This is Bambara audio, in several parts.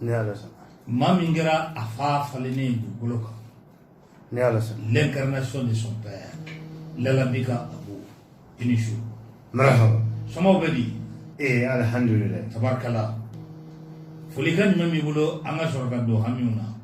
ni ala sɔnna maa min kɛra a fa falennen ye dugukolo kan ni ala sɔnna l'incarnation de son père lalabi ka abu i ni su marahaba sɔmɔw bɛ di ee alhamdulilayi tabarikala folikan jumɛn b'i bolo an ka sɔrɔ ka don hamiw na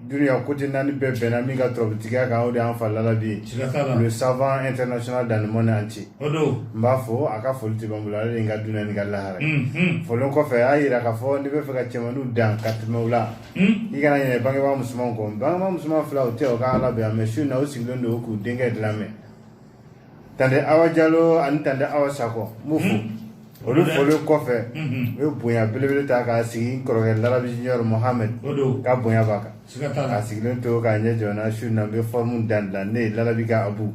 Dunya côté naani bɛɛ bɛnna min ka turabutigiya kan o de y'an fa lalabi ye le savant international dans le monde entier n b'a fo a ka foli tɛ ban n bolo ale de n ka dunya ni n ka lahara folen kɔfɛ a y'a jira k'a fɔ n'i b'a fɛ ka cɛmanw dan ka tɛmɛ u la i kana ɲinɛ bangebaga musoman kɔ bangebaga musoman fila o tɛ o ka ala yan mɛ su na o sigilen don k'u denkɛ de lamɛn tante awa jalo ani tante awa sakɔ n b'u fo olu folen kɔfɛ u ye bonya belebele ta k'a sigi n kɔrɔkɛ larabi junior mohamɛd ka bonya b'a kan k'a sigilen to k'a ɲɛ jɔ n na su na n bɛ fɔrmu dandilan ne ye larabi ka abu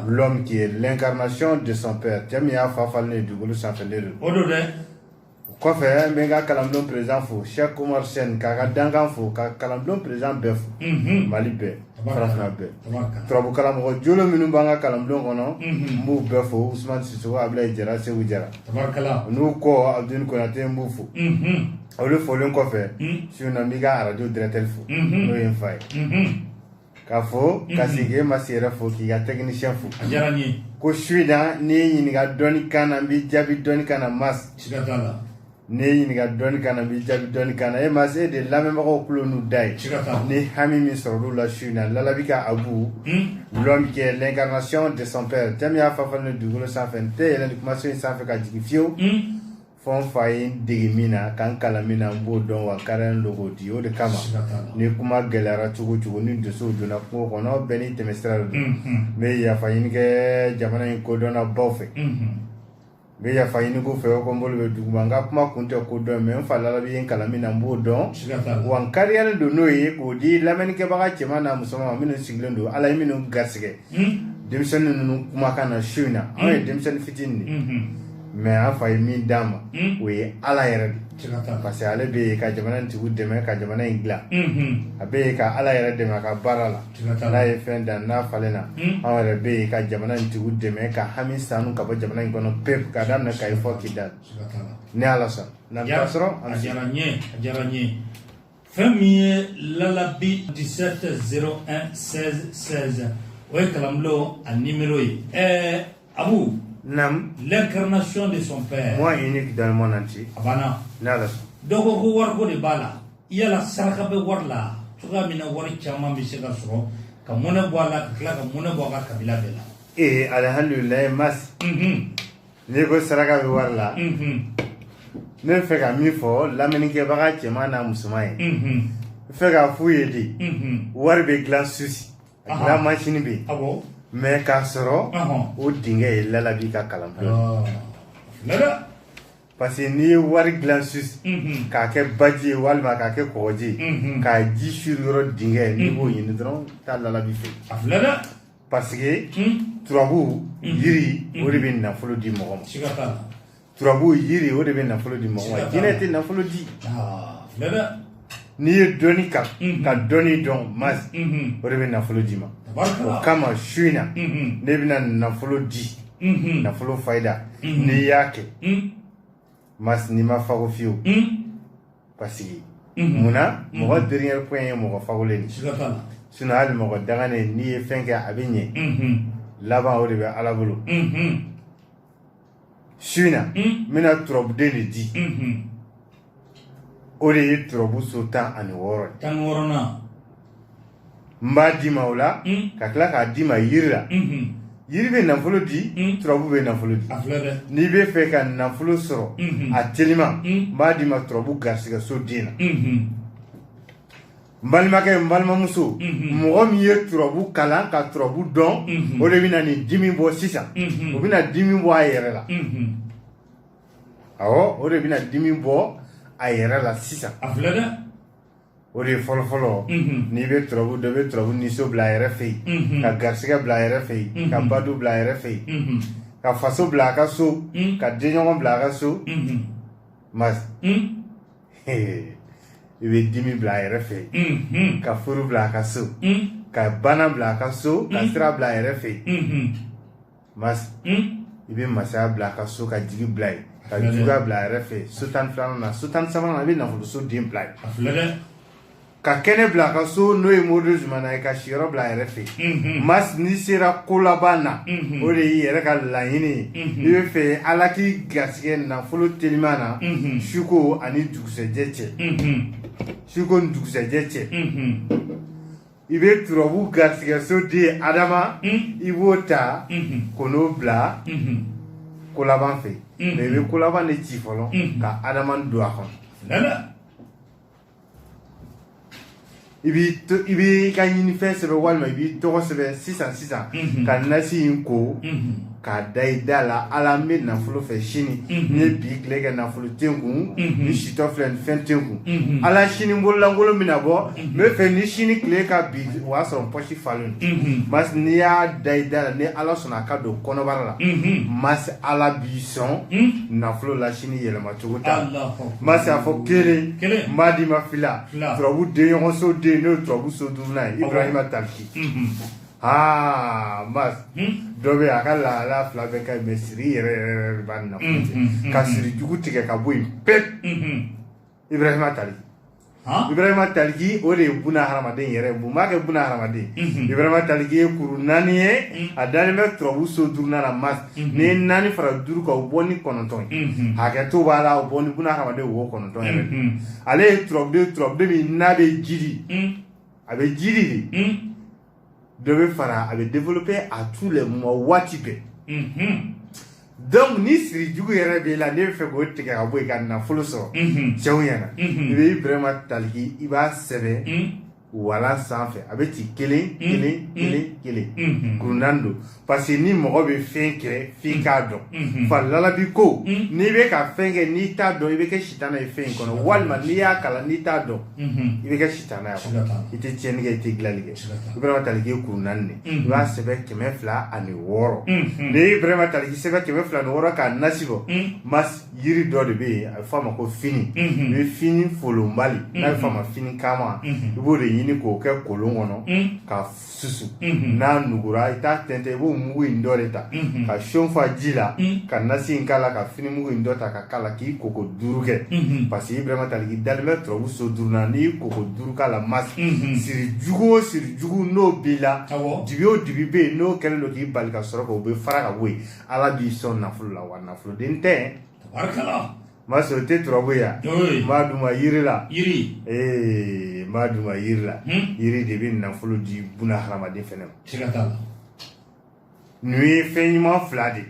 l'homme qui est l'incarnation de son père cɛ min y'a fa falennen ye dugukolo sanfɛ ne don o kɔfɛ n bɛ n ka kalanbulon président fo Sɛki Umaru Sɛni k'a ka dankan fo ka kalanbulon président bɛɛ fo Mali bɛɛ farafinna bɛɛ turabu karamɔgɔ jolen minnu b'an ka kalanbulon kɔnɔ n b'u bɛɛ fo Usumani Sisoko Abilayi Jara Seku Jara u n'u kɔ Abuduli Konate n b'u fo olu folen kɔfɛ su in na n b'i ka arajo directeur fo n'o ye n fa ye. K'a fo ka segin e mas yɛrɛ fo k'i ka technicien fo ko su in na n'i ye n ɲininka dɔnni kan na n b'i jaabi dɔnni kan na mas n'i ye n ɲininka dɔnni kan na n b'i jaabi dɔnni kan na e mas e de lamɛnbagaw kulu n'u da ye ni hami min sɔrɔ olu la su in na lalabi ka abu l'homme qui est l'incarnation de son père cɛ min y'a fa falennen ye dugukolo sanfɛ n tɛ yɛlɛn kumaso in sanfɛ ka jigin fiyewu fo n fa ye n dege min na ka n kalan min na n b'o dɔn wa n kariyalen don k'o di o de kama ni kuma gɛlɛyara cogo cogo ni donsow donna kungo kɔnɔ bɛɛ n'i tɛmɛsira de don n bɛ yafa ɲini kɛ jamana in kodɔnnabaw fɛ n bɛ yafa ɲini k'u fɛ ko n bolo bɛ duguma n ka kuma kun tɛ ko dɔn mais n fa lalabi ye n kalan min na n b'o dɔn wa n kariyalen don n'o ye k'o di lamɛnnikɛbaga cɛman n'a musoman ma minnu sigilen don ala ye minnu garisɛgɛ denmisɛnnin ninnu kumakan na su in na anw ye denmisɛnnin fitinin de mais an fa ye min d'an ma o ye ala yɛrɛ parce que ale bɛ ka jamana in tigiw dɛmɛ ka jamana in dilan a bɛ ka ala yɛrɛ dɛmɛ a ka baara la n'a ye fɛn dan n'a falen na anw yɛrɛ bɛ ka jamana in tigiw dɛmɛ ka hami sanu ka bɔ jamana in kɔnɔ pew ka daminɛ kayi fo kidali ni ala sɔnna fɛn min ye lalabi 17 01 16 16 o ye kalanbulon a nimero ye ɛɛ abu nam l'incarnation de son père moi unique dans le monde entier a banna n'ala sɔnna dɔ ko ko wariko de b'a la yala saraka bɛ wari la cogoya min na wari caman bɛ se ka sɔrɔ ka mɔnɛ bɔ a la ka tila ka mɔnɛ bɔ a ka kabila bɛɛ la ee alhamdulilayi mas Mhm. N'i ko saraka bɛ wari la, unhun, ne bɛ fɛ ka min fɔ lamɛnnikɛbaga cɛman n'a musoman ye, unhun, n bɛ fɛ k'a f'u ye de, unhun, wari bɛ dilan Suwisi, a dilan mansini bɛ yen, awɔ, mais k'a sɔrɔ, ɔnhɔn, o dingɛ ye lalabi ka kalan pewu, ɔɔ, lala, parce que n'i ye wari dilan Suwisi, unhun, k'a kɛ baji ye walima k'a kɛ kɔgɔji ye, unhun, k'a ji suri yɔrɔ dingɛ n'i b'o ɲini dɔrɔn i t'a lalabi fewu, a filɛ dɛ parce que turabu yiri o de bɛ nafolo di mɔgɔ ma turabu yiri o de bɛ nafolo di mɔgɔ ma jinɛ tɛ nafolo di n'i ye dɔnni kalan ka dɔnni dɔn mas o de bɛ nafolo d'i ma o kama su in na ne bɛna nafolo di nafolo fayida n'i y'a kɛ mas n'i ma fago fiyewu paseke munna mɔgɔ dernier point ye mɔgɔ fagolen de siga t'a la sinɔn hali mɔgɔ danganen n'i ye fɛn kɛ a bɛ ɲɛ laban o de bɛ ala bolo su in na n bɛna turabuden de di o de ye turabu so tan ani wɔɔrɔ ye tan wɔɔrɔnan n b'a d'i ma o la mm. ka tila k'a d'i ma yiri la mm-hmm. yiri bɛ nafolo di mm. turabu bɛ nafolo di n'i bɛ fɛ ka nafolo sɔrɔ mm-hmm. a telima n b'a d'i ma turabu garisigɛso den na mm-hmm. n balimakɛ n balimamuso mɔgɔ min ye turabu kalan ka turabu dɔn o de bɛna nin dimi bɔ sisan o bɛna dimi bɔ a yɛrɛ la awɔ o de bɛna dimi bɔ a yɛrɛ la sisan a filɛ dɛ o de ye fɔlɔfɔlɔ n'i bɛ turabu dɔn i bɛ turabu niso bila a yɛrɛ fɛ yen ka garisɛgɛ bila a yɛrɛ fɛ yen ka baden bila a yɛrɛ fɛ yen ka faso bila a ka so ka denɲɔgɔn bila a ka so mas i bɛ dimi bila a yɛrɛ fɛ yen ka furu bila a ka so ka bana bila a ka so ka sira bila a yɛrɛ fɛ yen mas hmm? i bɛ masaya bila a ka so ka jigi bila yen ka juguya bila a yɛrɛ fɛ yen so tan filanan na so tan sabanan na i bɛ nafoloso den bila yen ka kɛnɛ bila a ka so n'o ye mori zumana ye ka siyɔrɔ bila a yɛrɛ fɛ yen mhm. mas n'i sera kolaban na mhm. o de y'i yɛrɛ ka laɲini ye mhm. n'i bɛ fɛ ala k'i garisɛgɛ nafolo teliman na suko ani dugusɛjɛ cɛ suko ni dugusɛjɛ cɛ i bɛ turabu garisɛgɛso den adama i b'o ta ka n'o bila kolaban fɛ mais i bɛ kolaban de ci fɔlɔ ka adama don a kɔnɔ i b'i ka ɲinifɛn sɛbɛn walima i b'i tɔgɔ sɛbɛn sisan sisan ka nasi in ko k'a da i da la ala n bɛ nafolo fɛ sini mhm. n ye bi tile kɛ nafolo tɛ n kun mhm. ne sitɔ filɛ nin fɛn tɛ n kun mhm. ala sini bololankolon min na bɔ n bɛ fɛ ni sini tile ka bin o y'a sɔrɔ n pɔsi falen don masi n'i y'a da i da la ni ala sɔnna a ka don kɔnɔbara la masi ala b'i sɔn nafolo la sini yɛlɛma cogo t'a la masi a fɔ kelen n b'a d'i ma fila turabu den ɲɔgɔn so den n'o ye turabu so duurunan ye ibrahima taliki Aa mas dɔ bɛ a ka lahala fila bɛɛ ka ɲi mɛ siri yɛrɛ b'a na ka siri jugu tigɛ ka bɔ yen pewu ibrahima taliki ibrahima taliki o de ye buna hadamaden yɛrɛ mun b'a kɛ buna hadamaden ibrahima taliki ye kuru naani ye a dalen bɛ turabu so duurunan na mas n'i ye naani fara duuru kan o bɔ ni kɔnɔntɔn hakɛto b'a la o bɔ ni buna hadamaden wo kɔnɔntɔn yɛrɛ ale ye turabu turabuden min n'a bɛ jiri a bɛ jiri de dɔ bɛ fara a bɛ développer à tous les moments waati bɛɛ donc ni siri jugu yɛrɛ b'i la n'i b'a fɛ k'o tigɛ ka bɔ yen ka nafolo sɔrɔ cɛw ɲɛna i bɛ Ibrahima Taliki i b'a sɛbɛn walan sanfɛ a bɛ ci kelen kelen kelen kelen kuru naani don parce que ni mɔgɔ bɛ fɛn kɛ f'i mm. k'a dɔn mm-hmm. falalabi ko mm. n'i bɛ ka fɛn kɛ n'i t'a dɔn i bɛ kɛ sitana ye fɛn in kɔnɔ walima n'i y'a kalan n'i t'a dɔn mm-hmm. i bɛ kɛ sitana ye kɔnɔ i tɛ tiɲɛni kɛ i tɛ dilanni kɛ ibrahima taliki kuru naani de i mm-hmm. b'a sɛbɛn kɛmɛ fila ani wɔɔrɔ n'i ye ibrahima taliki sɛbɛn kɛmɛ fila ni wɔɔrɔ k'a nasi bɔ mas yiri dɔ de bɛ yen a bɛ fɔ a ma ko fini i bɛ fini folonbali n'a bɛ fɔ a ma fini kama i b'o de ɲini k'o kɛ kolon kɔnɔ ka susu n'a nugura i t'a tɛntɛn i b'o mugu in dɔ de ta ka seau fa ji la ka nasi in k'a la ka fini mugu in dɔ ta ka k'a la k'i koko duuru kɛ parce que ibrahima taliki dalen bɛ turabu so duurunan n'i y'i koko duuru k'a la masi siri jugu o siri jugu n'o b'i la dibi o dibi bɛ yen n'o kɛlen don k'i bali ka sɔrɔ k'o bɛ fara ka bɔ yen ala b'i sɔn nafolo la wa nafoloden tɛ Mas o tɛ turabu ye n b'a d'u ma jiri la ee n b'a d'u ma jiri la jiri de bɛ nafolo di buna hadamaden fana ma ninnu ye fɛn ɲuman fila de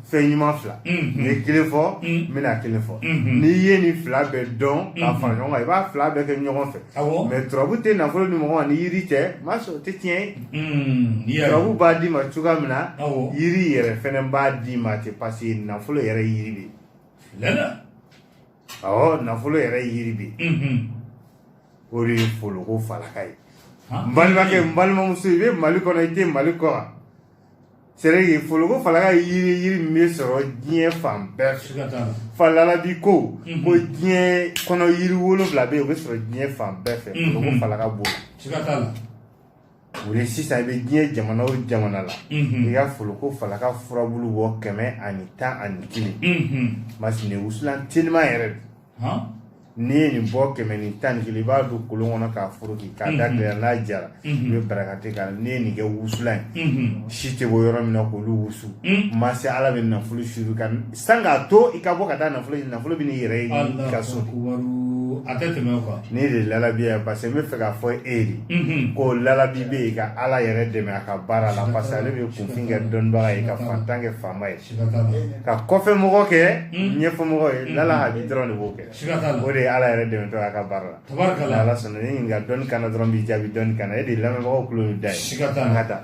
fɛn ɲuman fila n ye kelen fɔ n bɛna kelen fɔ n'i ye nin fila bɛɛ dɔn ka fara ɲɔgɔn kan i b'a fila bɛɛ kɛ ɲɔgɔn fɛ mɛ turabu tɛ nafolo di mɔgɔ ma ni jiri tɛ mas o tɛ tiɲɛ ye turabu b'a d'i ma cogoya min na jiri yɛrɛ fana b'a d'i ma ten parce que nafolo yɛrɛ jiri de ɔ nafolo yɛrɛ yiri bɛ o de ye foloko falaka ye n balimakɛ n balimamuso i bɛ mali kɔnɔ i tɛ mali kɔ wa c'est vrai que foloko falaka ye yiri yiri min bɛ sɔrɔ diɲɛ fan bɛɛ fɛ falalabi ko ko diɲɛ kɔnɔ yiri wolonwula bɛ yen o bɛ sɔrɔ diɲɛ fan bɛɛ fɛ foloko falaka b'o la o de sisan i bɛ diɲɛ jamana o jamana la i ka foloko falaka furabulu bɔ kɛmɛ ani tan ani kelen masi nin wusulan teliman yɛrɛ don n'i ye nin bɔ kɛmɛ ni tan ni kelen i b'a don kolon kɔnɔ k'a foroki k'a da tile la n'a jara i bɛ barakante k'a la n'i ye nin kɛ wusulan ye si tɛ bɔ yɔrɔ min na k'olu wusu masi ala bɛ nafolo suuru i kan sani k'a to i ka bɔ ka taa nafolo ɲini nafolo bɛ n'i yɛrɛ ɲini i ka so de a tɛ tɛmɛ o kan ne de lalabi yan parce que n bɛ fɛ k'a fɔ e de Mhm. ko lalabi bɛ yen ka ala yɛrɛ dɛmɛ a ka baara la parce que ale bɛ kunfin kɛ dɔnnibaga ye ka fantan kɛ faama ye siga t'a la ka kɔfɛmɔgɔ kɛ ɲɛfɛmɔgɔ ye lala habi dɔrɔn de b'o kɛ siga t'a la o de ye ala yɛrɛ dɛmɛtɔ a ka baara la tabarika ni ala sɔnna ni ɲininka dɔnni kana dɔrɔn b'i jaabi dɔnni kana e de lamɛnbagaw kulo bɛ da ye siga t'a an ka la taa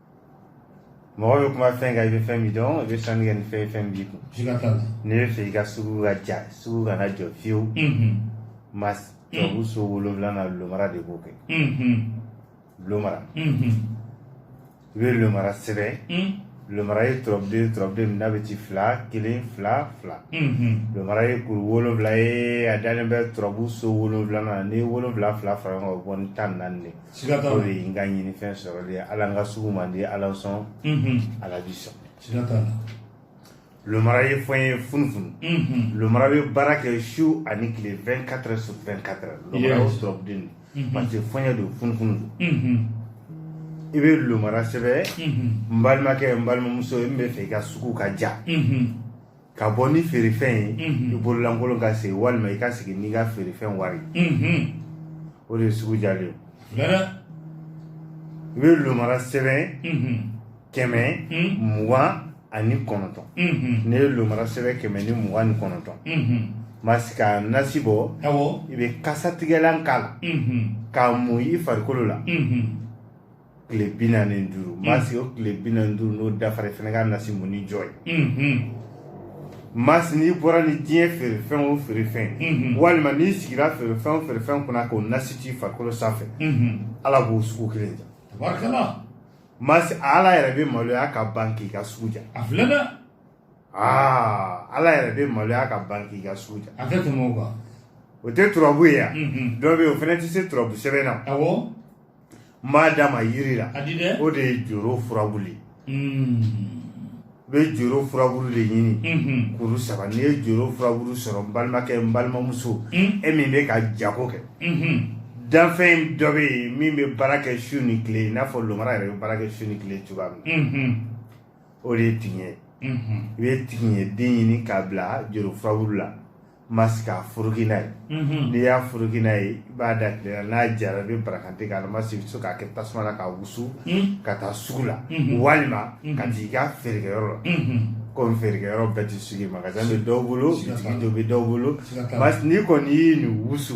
mɔgɔ bɛ kuma fɛn kan i bɛ fɛn min dɔn i bɛ sanni kɛ ni fɛn fɛn b'i kun n'i bɛ fɛ i ka sugu ka ja sugu kana jɔ fiyewu masi turabu so wolonwula na lomara de b'o kɛ lomara i bɛ lomara sɛbɛn lomara ye turabuden turabuden min n'a bɛ ci fila kelen fila fila lomara ye kuru wolonwula ye a dalen bɛ turabu so wolonwula na ni wolonwula fila fara ɲɔgɔn kan o bɛ bɔ ni tan ni naani de siga t'a la o de ye n ka ɲinifɛn sɔrɔli ye ala n ka sugu man di ala n sɔn ala b'i sɔn siga t'a la lomara ye fiɲɛ ye funufunu lomara bɛ baara kɛ su ani tile 24 heures sur 24 heures lomara ye turabuden de parce que fiɲɛ don funufunu don i bɛ lomara sɛbɛn n balimakɛ n balimamuso n bɛ fɛ i ka sugu ka ja ka bɔ ni feerefɛn ye i bololankolon ka segin walima i ka segin n'i ka feerefɛn wari o de ye sugu jalen ye i bɛ lomara sɛbɛn kɛmɛ mugan ani kɔnɔntɔn n'i ye lomara sɛbɛn kɛmɛ ni mugan ni kɔnɔntɔn masi ka nasi bɔ i bɛ kasatigɛlan k'a la k'a mun i farikolo la tile bi naani ni duuru mm. masi o tile bi naani duuru n'o dafara fana ka nasi munni jɔ yen mm-hmm. masi n'i bɔra ni diɲɛ feerefɛn o feerefɛn mm-hmm. walima n'i sigira feerefɛn o feerefɛn kunna k'o nasi t'i farikolo sanfɛ mm-hmm. ala b'o sugu kelen ja masi ala yɛrɛ bɛ maloya ka ban k'i ka sugu ja a filɛ dɛ aa ala yɛrɛ bɛ maloya ka ban k'i ka sugu ja a tɛ tɛmɛ o kan o tɛ turabu ye yan dɔ bɛ yen o fana tɛ se turabu sɛbɛn na awɔ n b'a d'a ma yiri la o de ye joro furabulu ye hmm. i bɛ joro furabulu de ɲini hmm. kuru saba n'i ye joro furabulu sɔrɔ n balimakɛ n balimamuso hmm. e min bɛ ka jago kɛ danfɛn dɔ bɛ yen min bɛ baara kɛ su ni tile i n'a fɔ lomara yɛrɛ bɛ baara kɛ su ni tile cogoya min na o de ye tigiɲɛ ye i bɛ tigiɲɛ den ɲini k'a bila joro furabulu la masi k'a furuki n'a ye n'i y'a furuki n'a ye i b'a da tile la n'a jara i bɛ barakante k'a la masi i bɛ se k'a kɛ tasuma la k'a wusu ka taa sugu la walima ka t'i ka feerekɛyɔrɔ la komi feerekɛyɔrɔ bɛɛ tɛ sugu ye magasin bɛ dɔw bolo bitigi dɔ bɛ dɔw bolo n'i kɔni y'i nin wusu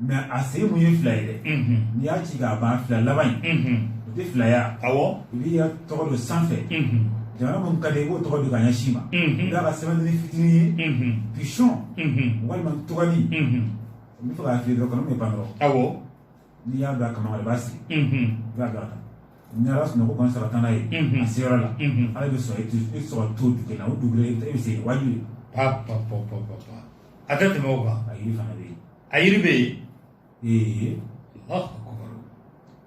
mɛ a se mun ye fila ye dɛ n'i y'a ci k'a ban fila laban in o tɛ filaya awɔ i b'i ka tɔgɔ don sanfɛ jamana min ka di i b'o tɔgɔ don ka ɲɛsin ma i b'a kɛ sɛbɛnni fitinin ye pigeon walima ntuganin n bɛ fɛ k'a fili dɔrɔn kɔnɔ min bɛ pan dɔrɔn awɔ n'i y'a don a kaman i b'a siri i b'a don a kan ni ala sɔnna kɔni sara taa n'a ye a se yɔrɔ la ala bɛ sɔrɔ i sɔrɔ to dugu la o dugu i bɛ se yen wajibi a tɛ tɛmɛ o kan a yiri fana bɛ yen a yiri bɛ yen ee Alahu akubar.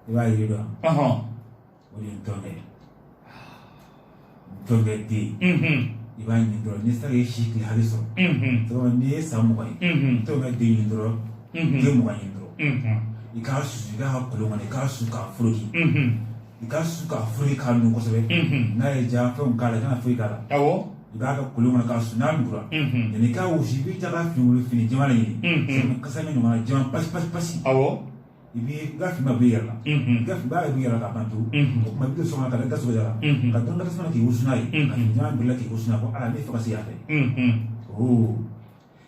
i b'a yiri dɔn Ɔhɔn. o de ye ntɔnkɛ ntɔnkɛ den Mhm. i b'a ɲini dɔrɔn ni saga ye si tile hali sɔrɔ Mhm. sabu n'i ye san mugan ye Mhm. ntɔnkɛ den ɲini dɔrɔn Mhm. den mugan ɲini dɔrɔn Mhm. i k'a susu i k'a kolon kɔnɔ i k'a su k'a foroki Mhm. i k'a su k'a foroki k'a nugu kosɛbɛ n'a ye ja fɛnw k'a la i kana foyi k'a la awɔ i b'a kɛ kolon kɔnɔ k'a su n'a nugura yanni i k'a wusu i b'i ta ka fini wolo fini jɛman de ɲini sɛbɛn kasa min ɲɔgɔnna jɛman pasi pasi pasi awɔ i b'i i ka fini ma b'i yɛrɛ la i ka fini b'a yɛrɛ b'i yɛrɛ la k'a ban pewu o tuma i bɛ don so kɔnɔ ka taa i da sɔgɔ jara ka dɔ kɛ tasuma k'i wusu n'a ye ka fini jɛman bila k'i wusu n'a ye ko ala ne fɛ ka se yan fɛ oo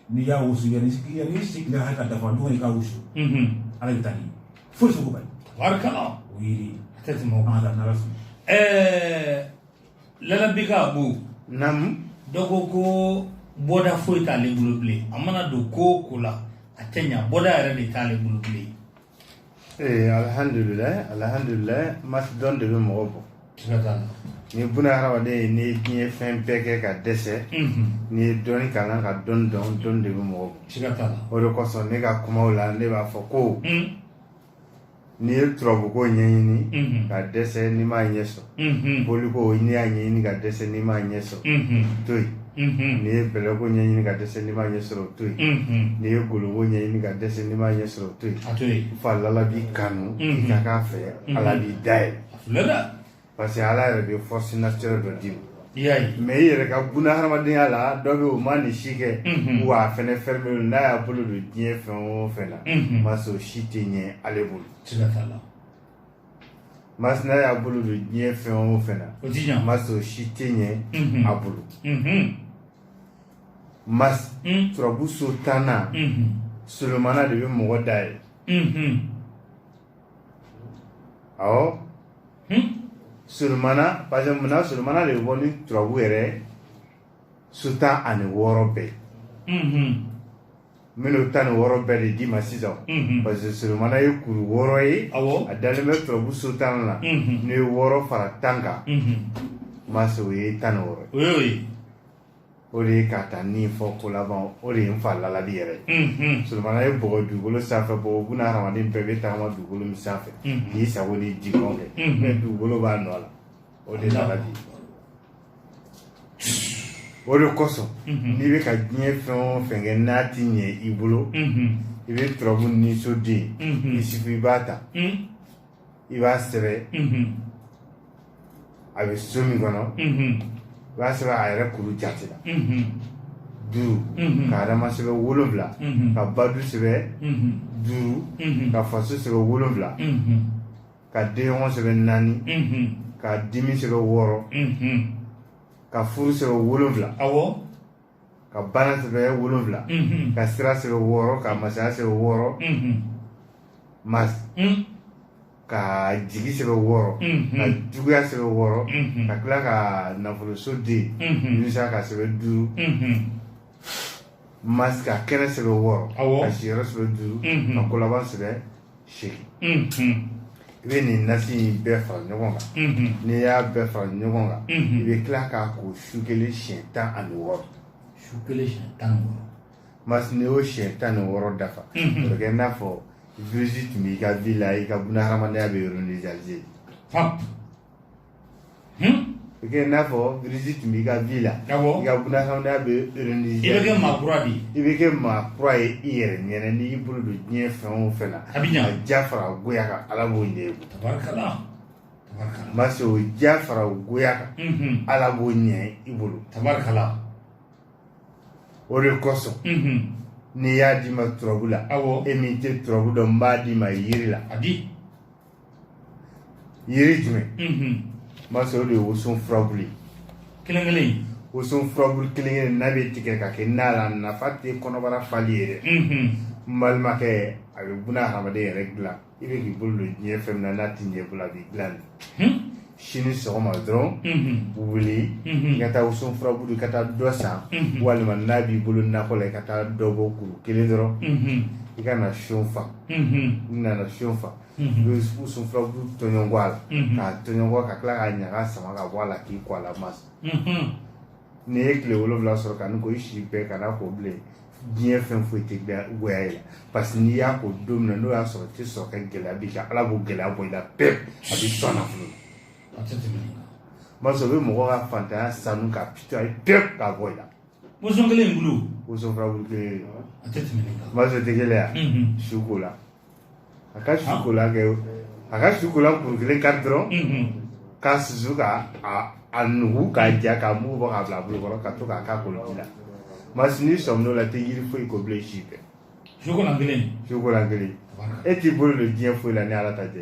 n'i y'a wusu yanni yanni sigira hakɛ ka dafa don i ka wusu ala bɛ taa ni foyi sugu bali barikala o yiri a tɛ tɛmɛ o kan ala n'ala sɔnna ɛɛ lalabika abu namu dɔ ko ko bɔda foyi t'ale bolo bilen a mana don ko o ko la a tɛ ɲa bɔda yɛrɛ de t'ale bolo bilen ee alihamdulilayi alihamdulilayi masi dɔɔni de bɛ mɔgɔ bɔ ni buna hadamaden ye nin diɲɛ fɛn bɛɛ kɛ ka dɛsɛ n'i ye dɔɔni kalan ka dɔɔni dɔn dɔɔni de bɛ mɔgɔ bɔ o de kosɔn ne ka kumaw la ne b'a fɔ ko n'i ye turabuko ɲɛɲini ka dɛsɛ n'i m'a ɲɛ sɔrɔ unhun, boli ko n'i y'a ɲɛɲini ka dɛsɛ n'i m'a ɲɛ sɔrɔ unhun, to yen unhun, n'i ye bɛlɛko ɲɛɲini ka dɛsɛ n'i m'a ɲɛ sɔrɔ to yen unhun. n'i ye kolonko ɲɛɲini ka dɛsɛ n'i m'a ɲɛ sɔrɔ to yen A to yen. fo ala b'i kanu i Mhm. ka k'a fɛ Mhm. ala b'i da yɛlɛ Filɛ dɛ. parce que ala yɛrɛ de ye force naturelle dɔ d'i ma I y'a ye. mɛ i yɛrɛ ka buna hadamadenya la dɔ bɛ yen o ma nin si kɛ Mhm. wa a fɛnɛ fɛn bɛ yen n'a y'a bolo don diɲɛ fɛn o fɛn na Mhm. masi o si tɛ ɲɛ ale bolo Siga t'a la. mas n'a y'a bolo don diɲɛ fɛn o fɛn na o ti ɲa mas o si tɛ ɲɛ Mhm. a bolo Mhm. mas Mm. turabu so tan na Mhm. solomana de bɛ mɔgɔ da ye Mhm. awɔ Hmm? solomana parce que munna solomana de bɛ bɔ ni turabu yɛrɛ so tan ani wɔɔrɔ bɛɛ Mhm. minnu tan ni wɔɔrɔ bɛɛ de d'i ma sisan mhm. parce que solomana ye kuru wɔɔrɔ ye a dalen bɛ turabu so tan na mhm. n'o ye wɔɔrɔ fara tan kan mhm. mase o ye tan ni wɔɔrɔ ye o de ye ka taa ni fɔ ko laban o de ye n fa lalali yɛrɛ ye solomana ye bɔgɔ dugukolo sanfɛ bɔgɔ buna hadamaden bɛɛ bɛ tagama dugukolo min sanfɛ k'i sago n'i dungɔ kɛ mais dugukolo b'a nɔ la o de lalali o de kosɔn n'i bɛ ka diɲɛ fɛn o fɛn kɛ n'a ti ɲɛ i bolo i bɛ turabu niso den isufu i b'a ta i b'a sɛbɛn a bɛ so min kɔnɔ i b'a sɛbɛn a yɛrɛ kuru jate la duuru ka adama sɛbɛn wolonwula ka badu sɛbɛn duuru ka faso sɛbɛn wolonwula ka denɲɔgɔn sɛbɛn naani ka dimi sɛbɛn wɔɔrɔ ka furu sɛbɛn wolonwula ka bana sɛbɛn wolonwula ka sira sɛbɛn wɔɔrɔ ka masaya sɛbɛn wɔɔrɔ mas ka jigi sɛbɛn wɔɔrɔ ka juguya sɛbɛn wɔɔrɔ ka tila ka nafoloso den yunusa k'a sɛbɛn duuru Mas ka kɛnɛ sɛbɛn wɔɔrɔ ka siyɛrɛ sɛbɛn duuru ka kolaban sɛbɛn segin i bɛ nin nasi in bɛɛ fara ɲɔgɔn kan n'i y'a bɛɛ fara ɲɔgɔn kan i bɛ tila k'a ko su kelen siɲɛ tan ani wɔɔrɔ su kelen siɲɛ tan mas n'i y'o siɲɛ tan ni wɔɔrɔ dafa a bɛ kɛ i n'a fɔ virus tun b'i ka vie la i ka buna hadamadenya bɛ organisé i kɛ n'a fɔ virus tun b'i ka vie la i ka bunadamadenya bɛ i bɛ kɛ maa kura de i bɛ kɛ maa kura ye i yɛrɛ ɲɛna n'i bolo don diɲɛ fɛn o fɛn na a bɛ a ja fara goya kan ala b'o ɲɛ i bolo mase o ja fara goya kan ala b'o ɲɛ i bolo tabarikala o de kosɔn ni n y'a d'i ma turabu la e min tɛ turabu dɔn n b'a d'i ma yiri la yiri jumɛn mase o de ye woson furabulu ye kelen kelen woson furabulu kelen kelen n'a bɛ tigɛ ka kɛ na la nafa tɛ kɔnɔbara fali ye dɛ n balimakɛ a bɛ buna hadamaden yɛrɛ dilan i bɛ k'i bolo don diɲɛ fɛn min na n'a ti ɲɛ i bolo a b'i dilan de sini sɔgɔma dɔrɔn wuli i ka taa woson furabulu i ka taa dɔ san walima n'a b'i bolo nakɔ la i ka taa dɔ bɔ kuru kelen dɔrɔn i ka na so n fa n'i nana so n fa n'o ye woson furabulu tɔɲɔnkɔ a la k'a tɔɲɔnkɔ ka tila k'a ɲaga sama ka bɔ a la k'i ko a la masa n'i ye tile wolonwula sɔrɔ ka nin ko i si bɛɛ kan'a ko bilen diɲɛ fɛn foyi tɛ goya i la parce que n'i y'a ko don min na n'o y'a sɔrɔ tɛ sɔrɔ ka gɛlɛya b'i kan ala b'o gɛlɛya bɔ i la pewu a b'i sɔn nafolo la masa o bɛ mɔgɔ ka faantanya sanu k'a nettoyer pewu k'a bɔ i la woson kelen in bulu woson furabulu kelen masa o tɛ gɛlɛya sukolan a ka sukolan kɛ a ka sukolan kuru kelen kari dɔrɔn k'a susu ka a nugu k'a ja k'a mugu bɔ k'a bila a bolo kɔrɔ ka to k'a k'a koliji la masa n'i sɔmin'o la i tɛ yiri foyi ko bilen si bɛɛ sukolan kelen sukolan kelen e t'i bolo don diɲɛ foyi la ni ala ta tɛ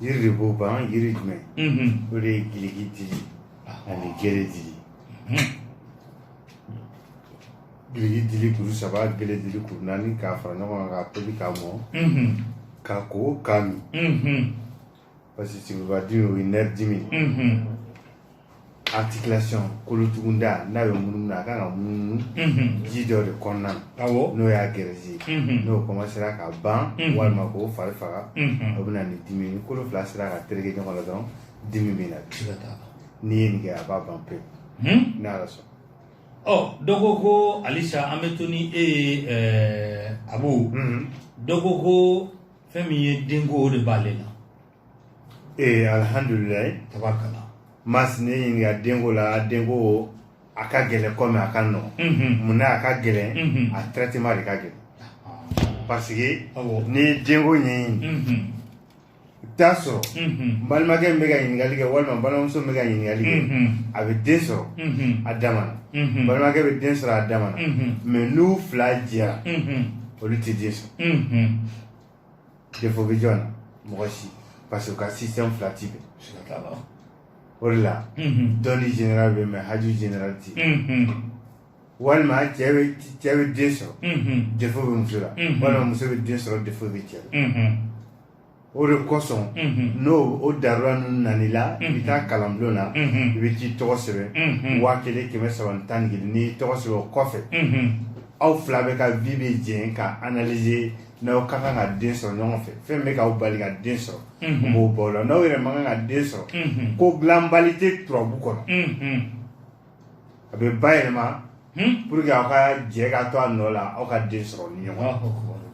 yiri de b'o ban yiri jumɛn o de ye giliki dili ani gele dili giliki dili kuru saba gele dili kuru naani k'a fara ɲɔgɔn kan k'a tobi k'a mɔ k'a ko k'a min parce que sigibadimi o ye nerf dimi articulation kolotugunda n'a bɛ munumunu na a kan ka munumunu mhm. ji dɔ de kɔnɔna na n'o y'a graisse mhm. n'o kɔmansera ka ban mhm. walima k'o fari faga o bɛ na ni dimi ni kolo fila sera ka tereke ɲɔgɔn la dɔrɔn dimi bɛ na n'i ye nin kɛ a b'a ban pewu hmm? n'ala sɔnna oh, dɔ ko ko halisa an bɛ to ni e ye eh, abu dɔ ko ko fɛn min ye denko o de b'ale la ee alihamdulilayi tabarakala masa ne ɲininka denko la denko a ka gɛlɛn kɔmi a ka nɔgɔn mhm. mun na a ka gɛlɛn mhm. a traitement de ka gɛlɛn parce que n'i ye denko ɲɛɲini mhm. i bɛ taa sɔrɔ n balimakɛ min bɛ ka ɲininkali kɛ walima n balimamuso min bɛ ka ɲininkali kɛ a bɛ den sɔrɔ a dama na balimakɛ bɛ den sɔrɔ a dama na mais n'u fila jɛra olu tɛ den sɔrɔ défaut bɛ jɔn na mɔgɔ si parce que u ka système fila ti bɛn siga t'a la o de la Mhm. dɔnni général bɛ mais haju général ti Mhm. walima cɛ bɛ cɛ bɛ den sɔrɔ Mhm. défaut bɛ muso la Mhm. walima muso bɛ den sɔrɔ défaut bɛ cɛ la Mhm. o de kosɔn Mhm. n'o o darula ninnu nana i la i bɛ taa kalanbulon na Mhm. i bɛ t'i tɔgɔ sɛbɛn Mhm. waa kelen kɛmɛ saba ni tan ni kelen n'i y'i tɔgɔ sɛbɛn o kɔfɛ Mhm. aw fila bɛɛ ka vie bɛ jɛn ka analyser n'aw ka kan ka den sɔrɔ ɲɔgɔn fɛ fɛn bɛ k'aw bali ka den sɔrɔ u b'o bɔ o la n'aw yɛrɛ man kan ka den sɔrɔ ko dilanbali tɛ turabu kɔnɔ a bɛ bayɛlɛma pour que aw ka jɛ ka to a nɔ la aw ka den sɔrɔ ni ɲɔgɔn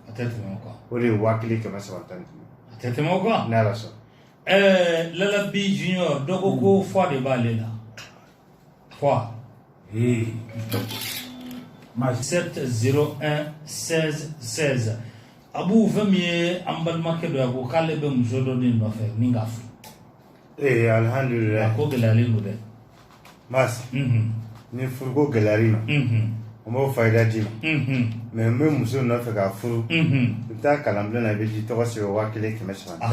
a tɛ tɛmɛ o kan o de ye waa kelen kɛmɛ saba tan ni duuru a tɛ tɛmɛ o kan n'ala sɔnna ɛɛ lalabi junior dɔ ko ko fɔ de b'ale la 3 et 7 0 1 16 16 abu fɛn min ye an balimakɛ dɔ ye a ko k'ale bɛ muso dɔ de nɔfɛ ni k'a furu ee alihamdulilayi a ko gɛlɛyalen don dɛ mas mhm. ni furuko gɛlɛyara i ma mhm. n b'o fayida d'i ma mhm. mais n'i bɛ muso nɔfɛ k'a furu i bɛ taa kalanbila na i bɛ t'i tɔgɔ sɛbɛn waa kelen kɛmɛ saba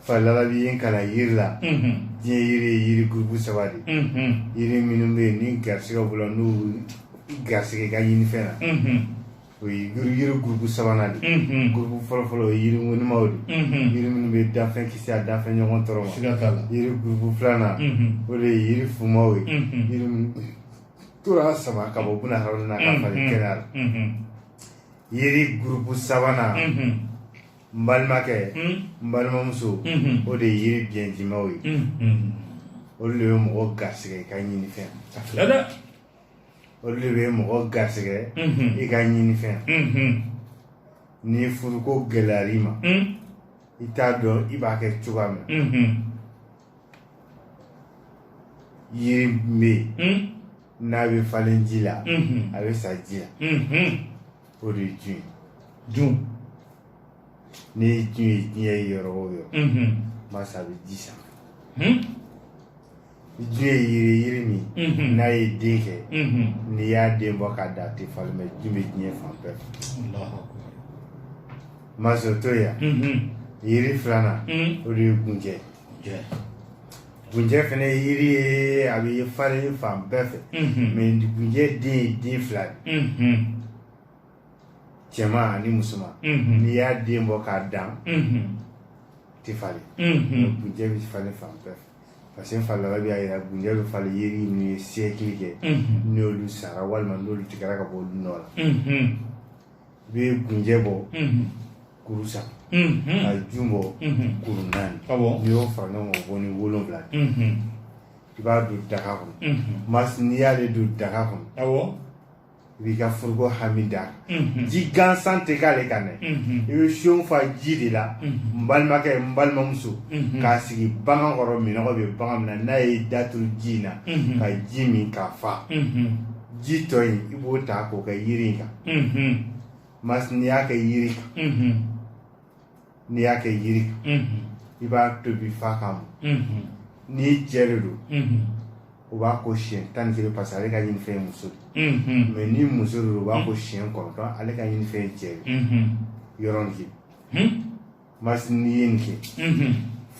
fa lalabi y'an kalan yiri la diɲɛ yiri ye yiri gurupu saba de yiri minnu bɛ yen ni garisigɛ b'u la n'u garisigɛ ka ɲini fɛn na o ye yiri gurupu sabanan de gurupu fɔlɔfɔlɔ o ye yiri ŋonimaw de yiri minnu bɛ danfɛn kisi a danfɛn ɲɔgɔn tɔɔrɔ ma yiri gurupu filanan o de ye yiri fumaw ye yiri minnu tɔɔrɔ sama ka bɔ buna hadamaden na k'a falen kɛnɛya la yiri gurupu sabanan n balimakɛ n balimamuso o de ye yiri biɲɛjimaw ye olu de bɛ mɔgɔ garisigɛ i ka ɲini fɛn olu de bɛ mɔgɔ garisigɛ i ka ɲini fɛn ni furuko gɛlɛyara i ma i t'a dɔn i b'a kɛ cogoya min yiri bɛ yen n'a bɛ falen ji la a bɛ sa ji la o de ye jun ye jun n'i ye jun ye diɲɛ yɔrɔ o yɔrɔ masa a bɛ ji san ni jun ye yiri ye yiri min n'a ye den kɛ n'i y'a den bɔ k'a dan a tɛ falen mais jun bɛ diɲɛ fan bɛɛ fɛ mas o to yan yiri filanan o de ye gunjɛ Gunjɛ fana ye yiri ye a bɛ falen fan bɛɛ fɛ mais gunjɛ den ye den fila de ye cɛman ani musoman n'i y'a den bɔ k'a dan a tɛ falen gunjɛ bɛ falen fan bɛɛ fɛ parce que fa lalabi y'a jira gunjɛ bɛ falen yiri minnu ye siècle kɛ n'olu sara walima n'olu tigɛra ka bɔ olu nɔ la i bɛ gunjɛ bɔ kuru saba ka jun bɔ kuru naani n'i y'o fara ɲɔgɔn kan bɔ ni wolonwula i b'a don daga kɔnɔ masi n'i y'ale don daga kɔnɔ i b'i ka furuko hami da ji gansan tɛ k'ale kan dɛ i bɛ seau fa ji de la n balimakɛ n balimamuso k'a sigi bagan kɔrɔ minɔgɔ bɛ bagan min na n'a y'a da turu ji in na ka ji min ka fa ji tɔ in i b'o ta k'o kɛ yiri in kan mas n'i y'a kɛ yiri kan n'i y'a kɛ yiri kan i b'a tobi fa k'a mɔ ni cɛ de don o b'a ko siɲɛ tan ni kelen parce que ale ka ɲini fɛn ye muso de mais ni muso de don o b'a ko siɲɛ kɔnɔntɔn ale ka ɲini fɛn ye cɛ de yɔrɔnin Mas n'i ye nin kɛ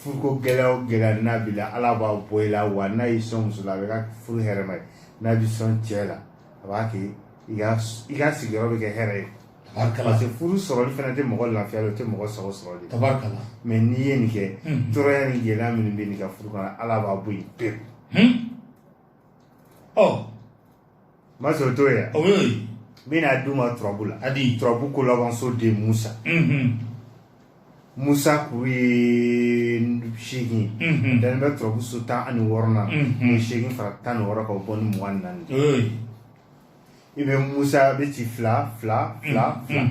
furuko gɛlɛya o gɛlɛya n'a b'i la Ala b'a bɔ i la wa n'a y'i sɔn muso la a bɛ kɛ furu hɛrɛma ye n'a b'i sɔn cɛ la a b'a kɛ i ka i ka sigiyɔrɔ bɛ kɛ hɛrɛ ye tabarikala parce que furu sɔrɔli fana tɛ mɔgɔ lafiya o tɛ mɔgɔ sago sɔrɔ de tabarikala mais n'i ye nin kɛ tɔɔrɔya ni gɛlɛya minnu bɛ nin ka furu kɔnɔ Ala b'a bɔ yen pewu ɔ Ma sɔn to yan n bɛn'a d'u ma turabu la hali turabu ko labanso de musa musa kuru ye seegin dan bɛ turabu so tan ani wɔɔrɔnan ni seegin fara tan ni wɔɔrɔ ka bɔ ni mugan ni naani i bɛ musa bɛ ci fila fila fila fila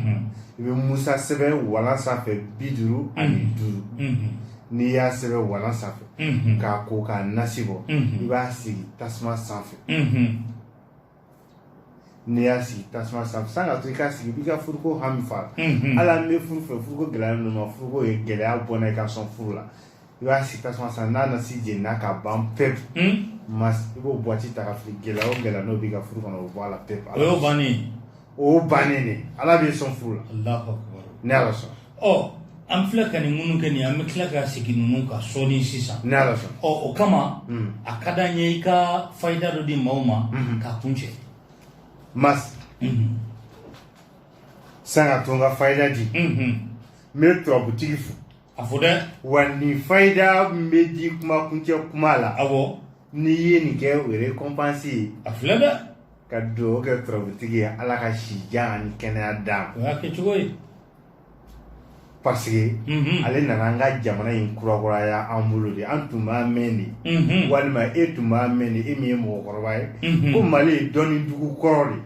i bɛ musa sɛbɛn walan sanfɛ bi duuru ani duuru n'i y'a sɛbɛn walan sanfɛ k'a ko k'a nasi bɔ i b'a sigi tasuma sanfɛ n'i y'a sigi tasuma sanfɛ san ka to i k'a sigi i b'i ka furuko hami fɔ ala ne bɛ furu fɛ furuko gɛlɛyalen don n ma furuko in gɛlɛya bɔ n na i ka n sɔn furu la i b'a sigi tasuma sanfɛ n'a nasi jenina ka ban pewu i b'o buwati ta k'a fili gɛlɛya o gɛlɛya n'o b'i ka furu kɔnɔ o bɔ a la pewu o y'o bannen o bannen de ala b'i sɔn furu la ni ala sɔnna an fila ka nin minnu kɛ nin an bɛ tila ka segin ninnu kan sɔɔni sisan ni ala sɔnna o kama hmm. a ka d'an ye i ka fayida dɔ di maaw ma hmm. k'a kuncɛ mas hmm. san ka to n ka fayida di n bɛ turabutigi fo a fo dɛ wa nin fayida min bɛ di kuma kuncɛ kuma la awɔ n'i ye nin kɛ o ye récompense ye a filɛ dɛ ka dugawu kɛ turabutigi ye ala ka si jan ani kɛnɛya d'a ma o y'a kɛcogo ye parce que mhm. ale nana an ka jamana in kurakuraya an bolo de an tun b'a mɛn de mhm. walima e tun b'a mɛn de e min ye mɔgɔkɔrɔba ye mhm. ko mali ye dɔnni dugu kɔrɔ de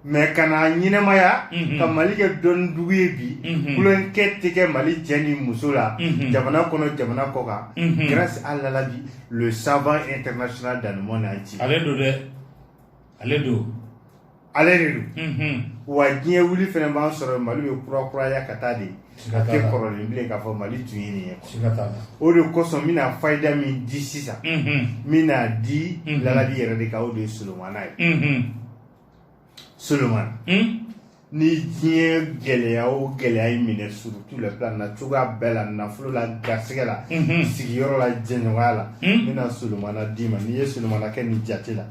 mais ka n'a ɲɛnamaya mhm. ka mali kɛ dɔnni dugu ye bi mhm. kulonkɛ tɛ kɛ mali cɛ ni muso la mhm. jamana kɔnɔ jamana kɔkan grâce à lalabi le savant international dans le monde entier ale don dɛ ale don ale de don wa diɲɛ wuli fana b'an sɔrɔ mali bɛ kurakuraya ka taa de a tɛ kɔrɔlen bilen k'a fɔ mali tun ye nin ye o de kosɔn n bɛna fayida min di sisan n bɛn'a di lalabi yɛrɛ de kan o de ye solomana ye Solomana ni diɲɛ gɛlɛya o gɛlɛya y'i minɛ sur tous les plans n'a cogoya bɛɛ la nafolo la garisɛgɛ la sigiyɔrɔ la jɛɲɔgɔnya la n bɛna solomana d'i ma n'i ye solomana kɛ nin jate la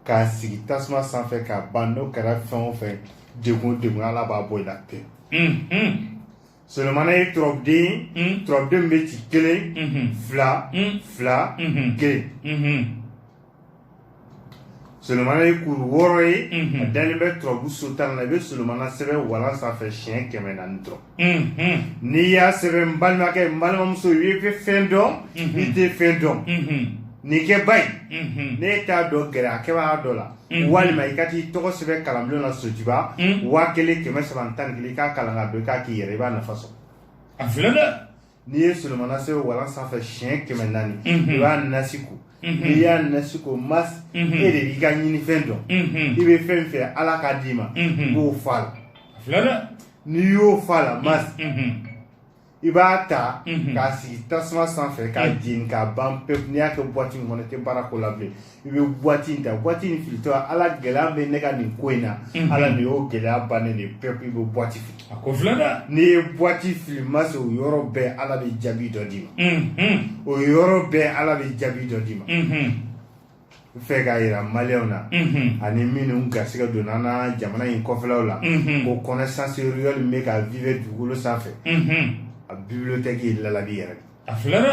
k'a sigi tasuma sanfɛ ka ban n'o kɛra fɛn o fɛn degun o degun ala b'a bɔ i la pewu solomana ye turabuden ye turabuden bɛ ci kelen fila fila kelen Solomana ye kuru wɔɔrɔ ye a dalen bɛ turabu so tan na i bɛ solomana sɛbɛn walan sanfɛ siɲɛ kɛmɛ naani dɔrɔn n'i y'a sɛbɛn n balimakɛ n balimamuso i bɛ fɛn dɔn i tɛ fɛn dɔn nin kɛ ba in n'e t'a dɔn gɛrɛ a kɛbaga dɔ la walima i ka t'i tɔgɔ sɛbɛn kalanbulon na sotiba waa kelen kɛmɛ saba tan ni kelen i k'a kalan k'a dɔn i k'a k'i yɛrɛ i b'a nafa sɔrɔ a filɛ dɛ n'i ye solomana sɛbɛn walan sanfɛ siɲɛ kɛmɛ naani mhm. i b'a nasi ko mhm. n'i y'a nasi ko mas mhm. e de b'i ka ɲinifɛn dɔn i bɛ fɛn fɛ ala k'a d'i ma i b'o f'a la n'i y'o f'a la mas i b'a ta k'a sigi tasuma sanfɛ k'a jeni k'a ban pewu n'i y'a kɛ buwati min kɔnɔ i tɛ baara k'o la bilen i bɛ buwati in ta buwati in filitɔ ala gɛlɛya bɛ ne ka nin ko in na mhm. ala nin y'o gɛlɛya bannen de pewu i bɛ buwati fili a ko filɛ dɛ n'i ye buwati fili mas o yɔrɔ bɛɛ ala bɛ jaabi dɔ d'i ma mhm. o yɔrɔ bɛɛ ala bɛ jaabi dɔ d'i ma n fɛ k'a yira maliyɛnw na ani minnu garisigɛ donna an na jamana in kɔfɛlaw la ko connaissance réelle min bɛ ka vivre dugukolo sanfɛ a bibliothèque ye lalabi yɛrɛ de a filɛ dɛ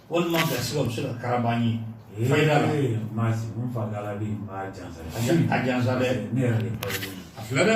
Walima ka se ka se ka kararaba ye maa fa ala bɛ maa jansa a jansa ne yɛrɛ a filɛ dɛ